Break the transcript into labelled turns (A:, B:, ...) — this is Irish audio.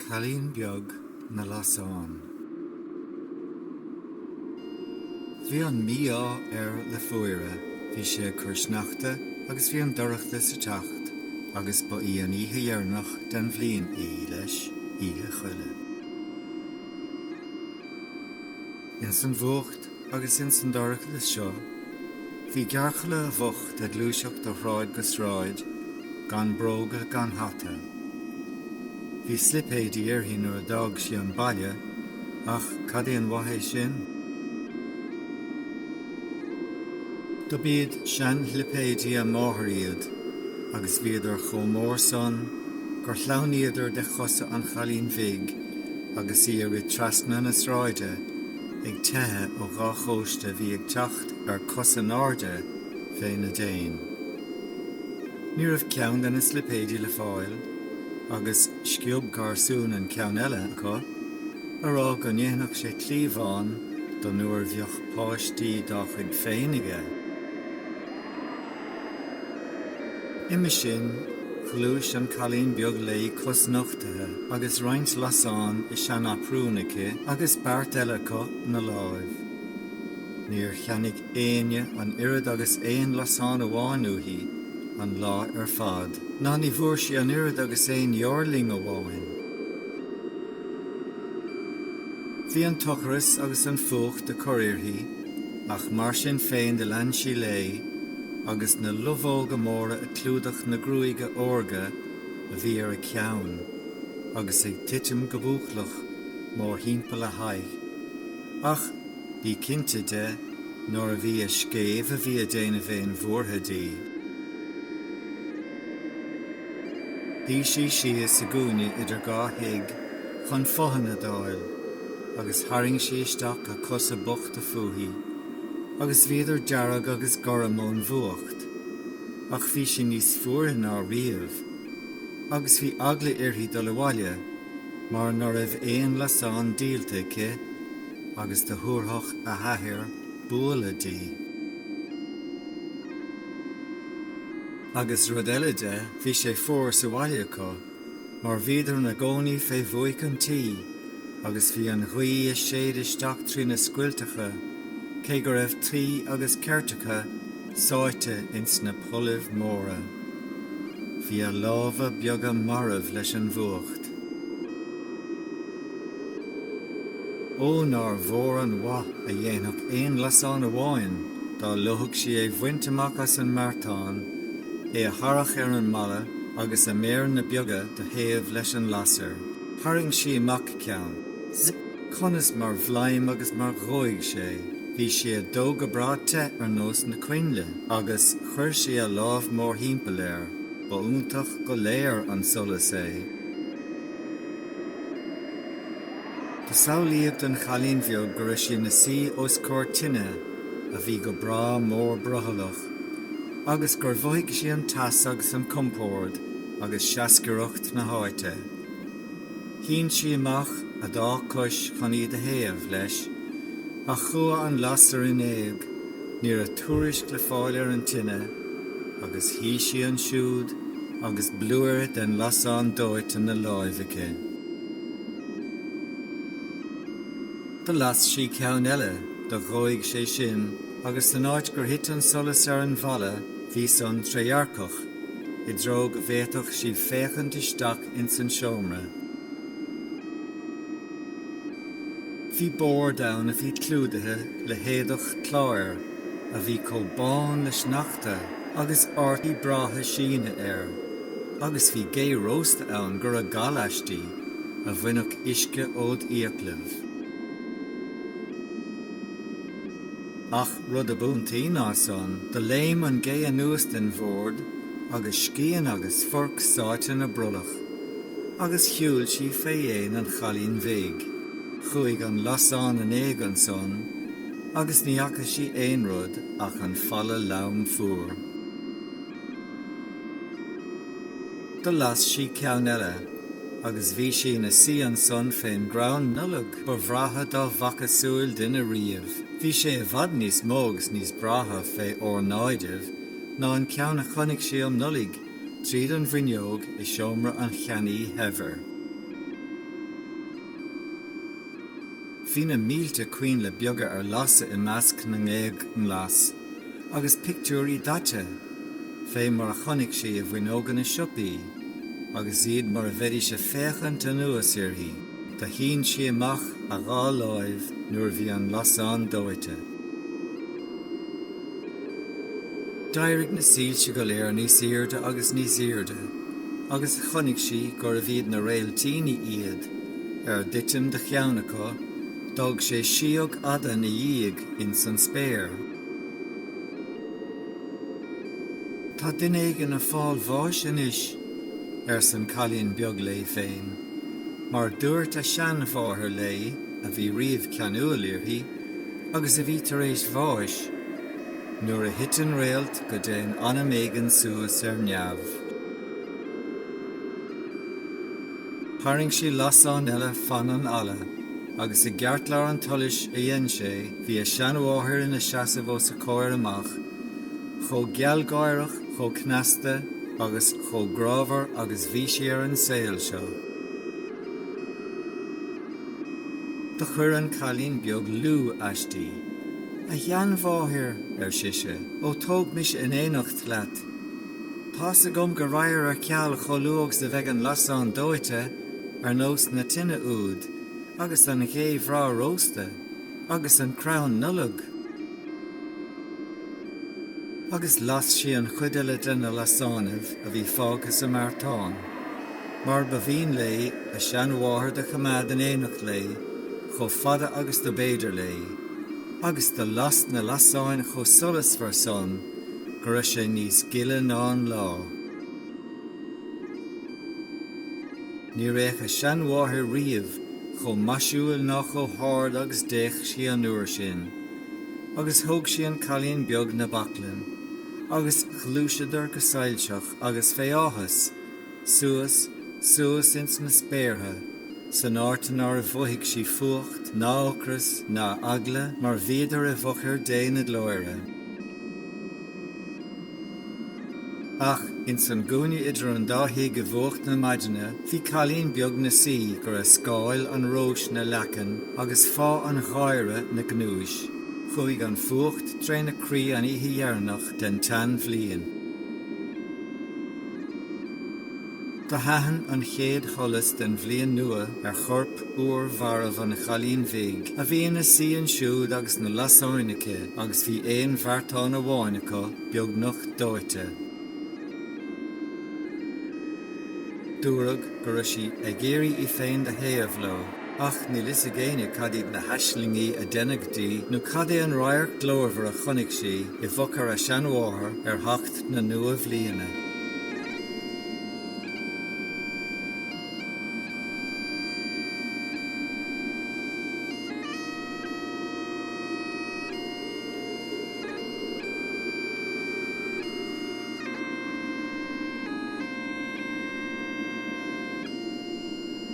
A: Cailín Beag na Lasán. Bhí an mí-ádh air le fuaire, bhí sé ag cur sneachta agus bhí an dorchadas ag teacht agus ba í an oíche dheireanach den bhliain í, leis, Oíche Choille. Ins an bhfuacht agus ins an dorchadas seo bhí gearrchaile bhocht ag gluaiseacht ó shráid go sráid, gan bróga gan hata. Bhí slipéidí uirthi nuair a d'fhág sí an baile, ach cad é an mhaith é sin? Do b'iad sean-shlipéidí a máthar iad, agus bhíodar chomh mór san gur shleamhnaíodar de chosa an chailín bhig agus í ag rith trasna na sráide ag teitheadh ó dhá chóiste a bhí ag teacht ar cosa in airde fé na déin. Ní raibh ceann de na slipéidí le fáil agus sciob garsún an ceann eile acu, á rá go ndéanfadh sé cliabhán do nuair bheadh páistí dá chuid féin aige. Uime sin, ghluais an cailín beag léi cosnochtaithe agus roinnt lasán i seanaprún aici agus beart eile acu 'na láimh. Níor cheannaigh éinne an oiread agus aon lasán amháin uaithi, an lá ar fad, ná ní bhfuair sí an oiread agus aon fheoirling amháin. Bhí an t-ocras agus an fuacht ag cur uirthi. ach mar sin féin do lean sí léi agus na lubhóga móra ag clúdach na gruaige órga a bhí ar a ceann agus ag titim go búclach mórthimpeall a haghaidh, ach bí cinnte de nárbh í a scéimh a bhí ag déanamh aon bhuartha di. Shuigh sí síos i gcúinne idir dhá thigh chun fothain a d'fháil agus tharraing sí isteach a cosa bochta fúithi, agus bhíodar dearg agus gorm ón bhfuacht. Ach bhí sí níos fuaire ná riamh, agus bhí eagla uirthi dul abhaile mar ná raibh aon lasán díolta aici agus do thabharfadh a hathair bualadh di. Agus rud eile de, bhí sé fuar sa bhaile acu, mar bhíodar ina gcónaí fé bhuaic an tí, agus bhí an ghaoth ag séideadh isteach trí na scoilteacha, cé go raibh tuí agus ceirteacha sáite ins na pollaibh móra. Bhí a lámha beaga marbh leis an bhfuacht. Ó nár mhór an mhaith a dhéanfadh aon lasán amháin dá leomhfadh sí é bhaint amach as an mbeartán, é a tharrach ar an mballa agus a méireanna beaga do théamh leis an lasair. Tharraing sí amach ceann. Zip! Conas mar bhlaim agus mar dhóigh sé! Bhí sé ag dó go breá te ar nós na coinnle, agus, Chuir sí a lámh mórthimpeall air. Ba iontach go léir an solas é. Do samhlaíodh don chailín bheag go raibh sí ina suí os comhair tine a bhí go breá mór brothallach, agus gur mhothaigh sí an teas agus an compord agus seascaireacht na háite. Shín sí amach a dá cois chun iad a théamh leis, ach chuaigh an lasair in éag, ní raibh tuairisc le fáil ar an tine, agus shuigh sí ansiúd agus blúire den lasán dóite ina láimh aici. Do las sí ceann eile, do dhóigh sé sin, agus san áit gur thit an solas ar an bhfalla bhí san trédhearcach, i dtreo go bhféadfadh sí féachaint isteach ins an seomra. Bhí bord ann a bhí clúdaithe le héadach cláir a bhí chomh bán le sneachta agus ártaí breátha síne air, agus bhí gé rósta ann go raibh gal aisti, a bhainfeadh uisce ód fhiaclaibh. Ach rud ab iontaí ná san, do léim an gé anuas den bhord agus scian agus forc sáite ina brollach, agus shiúil sí fé dhéin an chailín bhig. Chuaigh an lasán in éag ansan, agus ní fhaca sí aon rud ach an falla leamh fuar. Do las sí ceann eile agus bhí sí na suí ansan fén gcrann Nollag ba bhreátha dá bhfaca súil duine riamh. Bhí sé i bhfad níos mó agus níos breátha fé órnáidibh ná an ceann a chonaic sí um Nollaig tríd an bhfuinneog i seomra an cheannaí shaibhir. Bhí na mílte coinnle beaga ar lasadh i measc na ngéag nglas. agus pictiúirí daite fé mar a chonaic sí i bhfuinneoga na siopaí agus iad mar a bheidís a féachaint anuas uirthi do shín sí amach a dhá láimh nuair a bhí an lasán dóite. D'éirigh na soílse go léir níos aoirde agus níos aoirde agus chonaic sí gurbh iad na réiltíní iad, ar dtitim do cheann acu d'fhág sé síog fhada 'na dhiaidh, ins an spéir. Tá duine éigin ag fáil bháis anois, ars an cailín beag léi féin, mar dúirt a seanmháthair léi a bhí riamh ceanúil uirthi agus a bhí tar éis bháis, Nuair a thiteann réalt go dtéann anam éigin suas ar neamh. Tharraing sí lasán eile fan an fhalla. agus i gceartlár an tsolais a dhein sé bhí a seanmháthair ina seasamh os a comhair amach, chomh gealgháireach, chomh cneasta agus chomh grámhar agus bhí sí ar an saol seo. Do chuir an cailín beag liú aisti. A sheanmháthair, ar sise, ó tóg mise in éineacht leat! Tá's agam go raghair ar ceal chomh luath agus a bheidh an lasán dóite ar nós na tine úd, agus an ghé bhreá rósta, agus an crann Nollag. Agus las sí an chuid eile de na lasánaibh a bhí fágtha sa mbeartán, mar ba mhian léi a seanmháthair do choimeád in éineacht léi chomh fada agus do b'fhéidir léi, agus do las na lasáin chomh solasmhar san, go raibh sé níos gile ná an lá. Níor fhéach a seanmháthair riamh chomh maisiúil ná chomh hard agus d'fhéach sí an uair sin, agus thóg sí an cailín beag 'na baclainn, agus ghluaiseadar go soilseach agus fé áthas, suas, suas ins na spéartha, san áit nár mhothaigh sí fuacht ná ocras ná eagla mar bhíodar i bhfochair Dé na Glóire, ach ins an gcúinne idir an dá thigh i bhfuacht na maidine bhí cailín beag na suí go raibh scáil an róis 'na leacan agus fáth an gháire 'na gnúis. Chuaigh an fuacht tré na croí an oíche dheireanach den tsean-bhliain. Do thaithin an chéad sholas den bhliain nua ar chorp fhuar mharbh an chailín bhig a bhí ina suí ansiúd agus na lasáin aici agus bhí aon bheartán amháin acu beagnach dóite. Dúradh go raibh sí ag iarraidh í féin do théamh leo. Ach níl fhios ag éinne cad iad na haislingí a deineadh di, nó cad é an radharc glórmhar a chonaic sí i bhfochair a seanmháthar ar theacht na nua-bhliana.